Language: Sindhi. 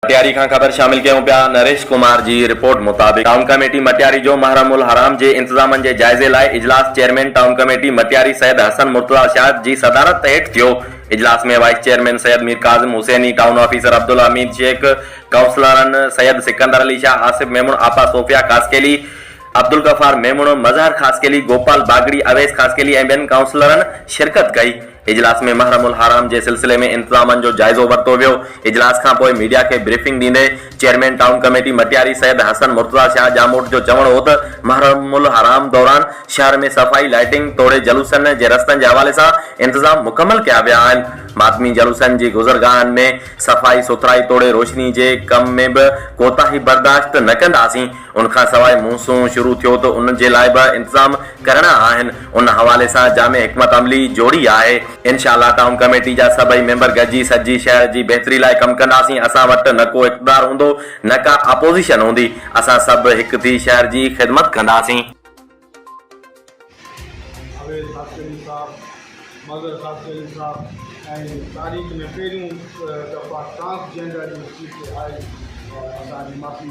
مٽياري کان خبر شامل ڪيون پيا، نريش ڪمار جي رپورٽ مطابق ٽائون ڪميٽي مٽياري جو محرم الحرام جي انتظامن جي جائزي لاء اجلاس chairman town committee Matiari Syed حسن مرتضيٰ شاهد جي صدارت هيٺ ٿيو، اجلاس ۾ vice chairman Syed Mir Kazim Hussaini, town officer Abdul Hamid Shaikh, ڪائونسلرن سيد سڪندر علي شاهه، آصف ميمڻ، آپا صوفيا خاصخيلي، عبدالغفار ميمڻ، مظهر خاصخيلي، گوپال باگڙي، اويس خاصخيلي ۽ ٻين ڪائونسلرن شرڪت ڪئي. اجلاس ۾ محرم الحرام جي سلسلي ۾ انتظامن جو جائزو ورتو ويو، اجلاس کانپوء ميڊيا کي بريفنگ ڏيندي chairman town committee Matiari Syed حسن مرتضيٰ شاهه ڄاموٽ جو چوڻ هو ته محرم الحرام دوران شهر ۾ صفائي لائيٽنگ توڙي جلوسن جي رستن جي حوالي سان انتظام مڪمل ڪيا ويا آهن، ماتمي جلوسن جي گذرگاهن ۾ صفائي سٿرائي توڙي روشني جي ڪم ۾ به ڪوتاهي برداشت نه ڪنداسين، ان کانسواء مونسون شروع ٿيو ته ان جي لاء به انتظام ڪرڻا آهن ان حوالي سان جامع حڪمت عملي جوڙي آهي انشاء الله ٽائون ڪميٽي جا سڀئي ميمبر گڏجي سڄي شهر جي بهتري لاء ڪم ڪنداسين اسان وٽ نه ڪو اقتدار هوندو نه ڪا اپوزيشن هوندي اسان سڀ هڪ ٿي شهر جي خدمت ڪنداسين. اويس خاصخيلي صاحب، مظهر خاصخيلي صاحب ۽ تاريخ ۾ پهريون دفعا ٽرانس جينڊر جي اسٽيج تي آئي اسان جي معافي.